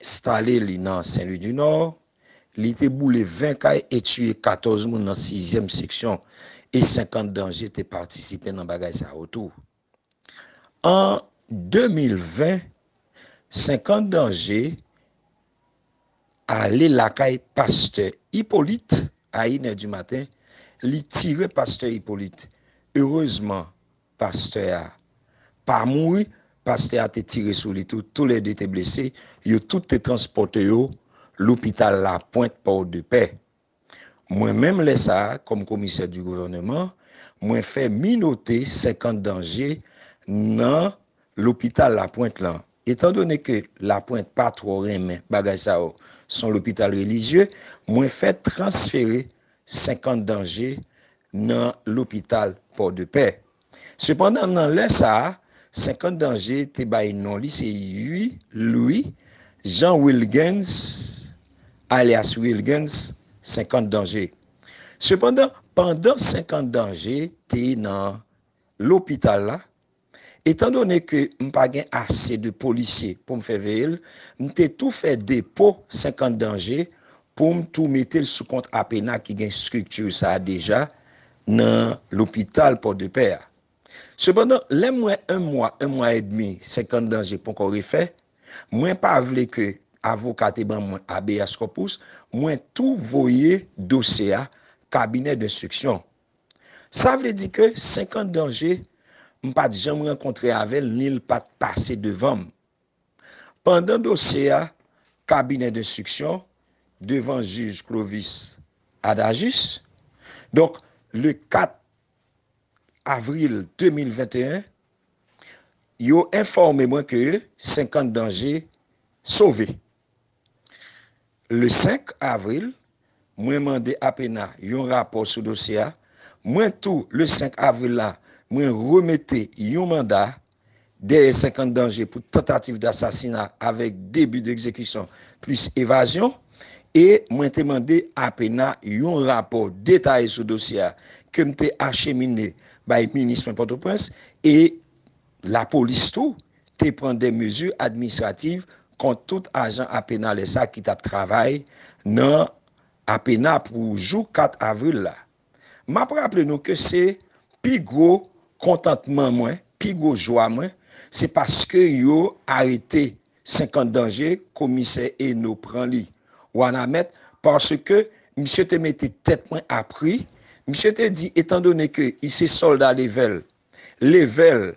enstale li nan Senlwidinò, li te boule 20 kay e tiye 14 moun nan sizyèm seksyon e 50 danje te patisipe nan bagay sa yo tou. An 2020, 50 danje ale lakay pastè Ipolit a inè di maten, li tire pastè Ipolit. Erezman. pastè a pa mouri, pastè a te tire sou li tou, tou le 2 te blese, yo tout te transpòte yo lopital Lapwent Pòdepè. Mwen menm lè sa a, kòm komisè di gouvèneman, mwen fè minote 50 danje nan lopital Lapwent lan. Etan done ke Lapwent pa twò renmen bagay sa yo, son lopital relijye, mwen fè transfere 50 danje nan lopital Pòdepè. Sepandan nan lè sa a, 50 danje te bay non li se Ui Lwi Jan Wilgens alyas Wilgens 50 danje. Sepandan, pandan 50 danje te nan lopital la, Etan done ke m pa gen ase de polisye pou m fè veye l, m te tou fè depo 50 danje pou m tou mete l sou kont APENAH ki gen estrikti sa a deja nan lopital Pòdepè a. Sepandan, lè m wè 1 mwa, 1 mwa edmi 50 danje ponkò refè, mwen pa vle ke avoka te ban mwen habeas corpus, mwen tou voye dosye a kabinè denstriksyon. Sa vle di ke 50 danje m pa t janm rankontre avè l ni l pa t pase devan m. Pandan dosye a kabinè denstriksyon devan jij Clovis Adajis, donk le 4 avril 2021, yo enfòme mwen ke 50 danje sove. Le 5 avril, mwen mande APENA yon rapò sou dosye a. Mwen tou, le 5 avril la, mwen remete yon manda dèyè 50 danje pou tantativ dasasina avèk 2 bi dekzekisyon plis evazyon. E mwen te mande APENA yon rapò detaye sou dosye a ke m te achemine bay minis mwen Pòtoprens e. Lapolis tou te pran 2 mezi administrativ kont tout ajan APENALES a ki t ap travay nan APENA pou jou 4 avril la. M ap raple nou ke se pi gwo kontantman mwen, pi gwo jwa mwen, se paske yo arete 50 danje komisè Eno pran li Wanament paske misye te mete tèt mwen a pri. Misye te di etandone ke li se sòlda level Level,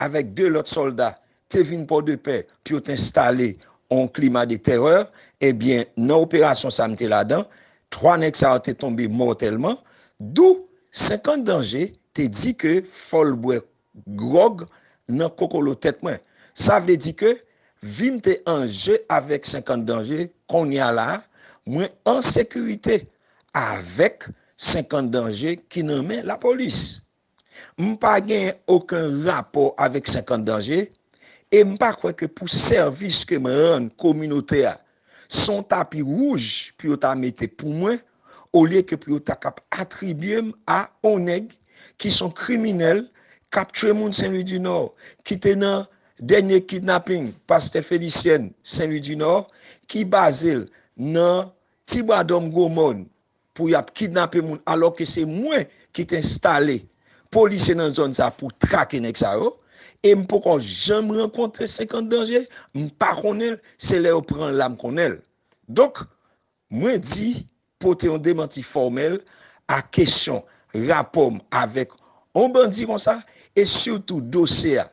avèk 2 lòt sòlda, te vin Pòdepè pou yo t enstale yon klima de tèrè. Ebyen, nan operasyon sa a m te ladan, 3 nèg sa yo te tonbe mòtèlman. Dou 50 danje te di ke fò l bwè gwòg nan kokolo tèt mwen. Sa vle di ke vi m te an je avèk 50 danje. Konnya la a, mwen an sekirite avèk 50 danje ki nan men lapolis. M pa gen oken rapò avèk 50 danje e m pa kwè ke pou sèvis ke m rann kominote a, se yon tapi wouj pou yo ta mete pou mwen olye ke pou yo ta kap atribye m a yon nèg ki se yon kriminèl k ap tchwe moun Senlwidinò, ki te nan dènye kidnaping pastè Felisièn Senlwidinò ki baze l nan Tibwadòm Gwomòn pou yap kidnape moun alò ke se mwen ki te enstale polisye nan zòn sa pou trake nèg sa yo e m poko janm rankontre 50 danje m pa konnen l se lè yo pran l la m konnen l donk mwen di pote yon demanti fòmèl a kesyon rapò m avèk yon bandi konsa e sitou dosye a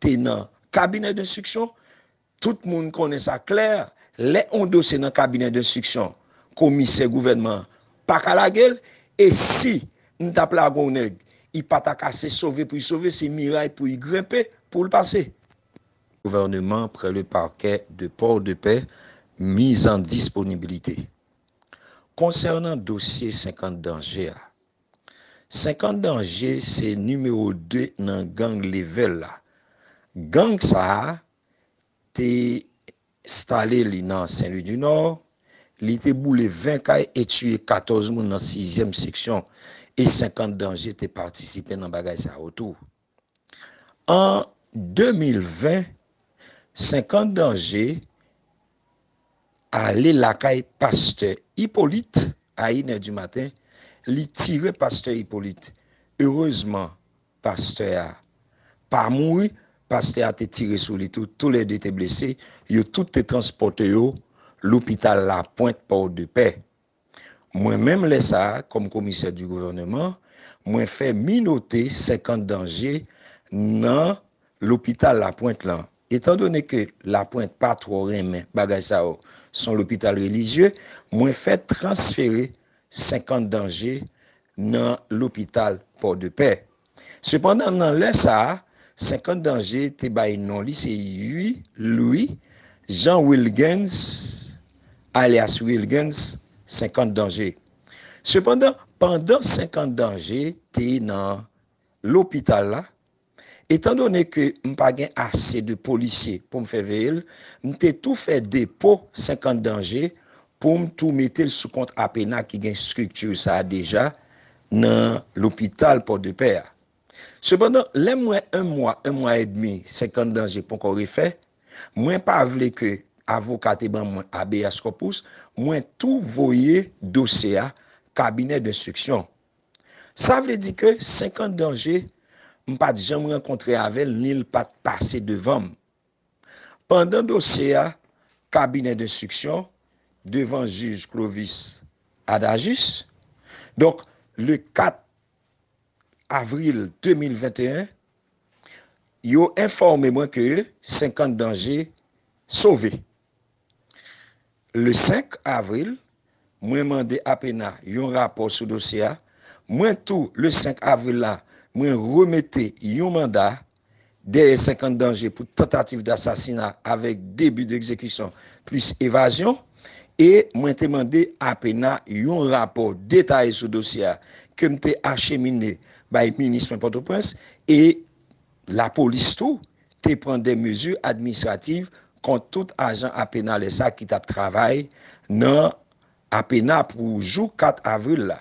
te nan kabinè denstriksyon Tout moun konnen sa klè, lè yon dosye nan kabinè denstriksyon, komisè gouvènman an pa ka lage l, e si m t ap lage yon nèg, li pa ta ka, se sove pou li sove, se miray pou li grenpe pou l pase. Gouvèneman près le parquet de Port-de-Paix mise en disponibilité Konsènan dosye 50 danje a, 50 danje se nimewo 2 nan gang Level la. Gang sa a te enstale li nan Senlwidinò, li te boule 20 kay e tiye 14 moun nan sizyèm seksyon e 50 danje te patisipe nan bagay sa yo tou. An 2020, 50 danje ale lakay pastè Ipolit a inèdimaten, li tire pastè Ipolit. Erezman, pastè a pa mouri, pastè a te tire sou li tou, tou le 2 te blese, yo tout te transpòte yo lopital Lapwent Pòdepè. Mwen menm lè sa a, kòm komisè di gouvèneman, mwen fè minote 50 danje nan lopital Lapwent lan. Etan done ke Lapwent pa twò renmen bagay sa yo, son lopital relijye, mwen fè transfere 50 danje nan lopital Pòdepè. Sepandan nan lè sa a, 50 danje te bay non li se Ui Lwi Jan Wilgens alyas Wilgens 50 danje. Sepandan, pandan 50 danje te nan lopital la, Etandone ke m pa gen ase de polisye pou m fè veye l, m te tou fè depo 50 danje pou m tou mete l sou kont APENAH ki gen estrikti sa a deja nan lopital Pòdepè a. Sepandan, lè m wè 1 mwa, 1 mwa edmi 50 danje ponkò refè, mwen pa vle ke avoka te ban mwen habeas corpus, mwen tou voye dosye a kabinè denstriksyon. Sa vle di ke 50 danje m pa t janm rankontre avè l ni l pa t pase devan m. Pandan dosye a kabinè denstriksyon devan jij Clovis Adajis, donk le 4 avril 2021, yo enfòme mwen ke 50 danje sove. Le 5 avril, mwen mande APENA yon rapò sou dosye a. Mwen tou, le 5 avril la, mwen remete yon manda dèyè 50 danje pou tantativ dasasina avèk 2 bi degzekisyon plis evazyon. E mwen te mande APENA yon rapò detaye sou dosye a ke m te achemine bay minis mwen Pòtoprens e. Lapolis tou te pran 2 mezi administrativ kont tout ajan APENALES a ki t ap travay nan APENA pou jou 4 avril la.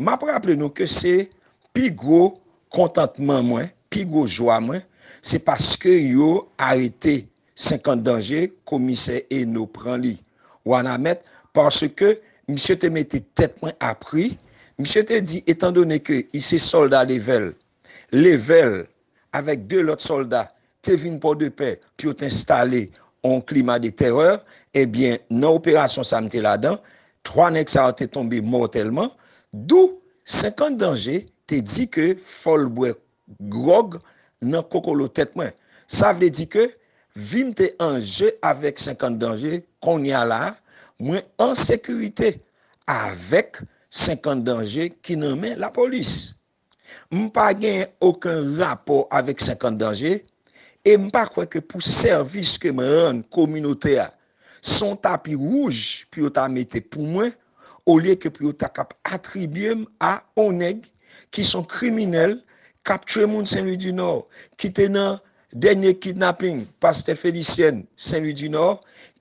M ap raple nou ke se pi gwo kontantman mwen, pi gwo jwa mwen, se paske yo arete 50 danje komisè Eno pran li Wanament paske misye te mete tèt mwen a pri. Misye te di etandone ke li se sòlda levèl Level, avèk 2 lòt sòlda, te vin Pòdepè pou yo t enstale yon klima de tèrè. Ebyen, nan operasyon sa a m te ladan, 3 nèg sa yo te tonbe mòtèlman. Dou, 50 danje, te di ke fò l bwè gwòg nan kokolo tèt mwen. Sa vle di ke vi m te an je avèk 50 danje, kounye a la a, mwen an sekirite avèk 50 danje ki nan men lapolis. M pa gen oken rapò avèk 50 danje e m pa kwè ke pou sèvis ke m rann kominote a, se yon tapi wouj pou yo ta mete pou mwen olye ke pou yo ta kap atribye m a yon nèg ki se yon kriminèl k ap tchwe moun Senlwidinò, ki te nan dènye kidnaping pastè Felisièn Senlwidinò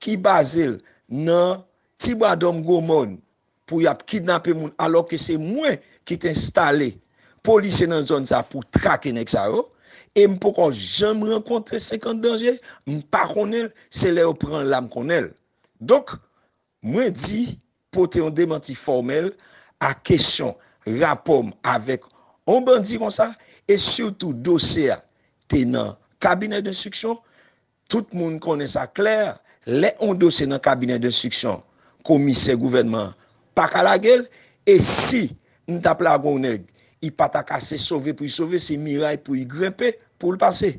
ki baze l nan Tibwadòm Gwomòn pou yap kidnape moun alò ke se mwen ki te enstale polisye nan zòn sa pou trake nèg sa yo e m poko janm rankontre 50 danje m pa konnen l se lè yo pran l la m konnen l donk mwen di pote yon demanti fòmèl a kesyon rapò m avèk yon bandi konsa e sitou dosye a te nan kabinè denstriksyon Tout moun konnen sa klè, lè yon dosye nan kabinè denstriksyon, komisè gouvènman an pa ka lage l, e si m t ap lage yon nèg, li pa ta ka, se sove pou li sove, se miray pou li grenpe pou l pase.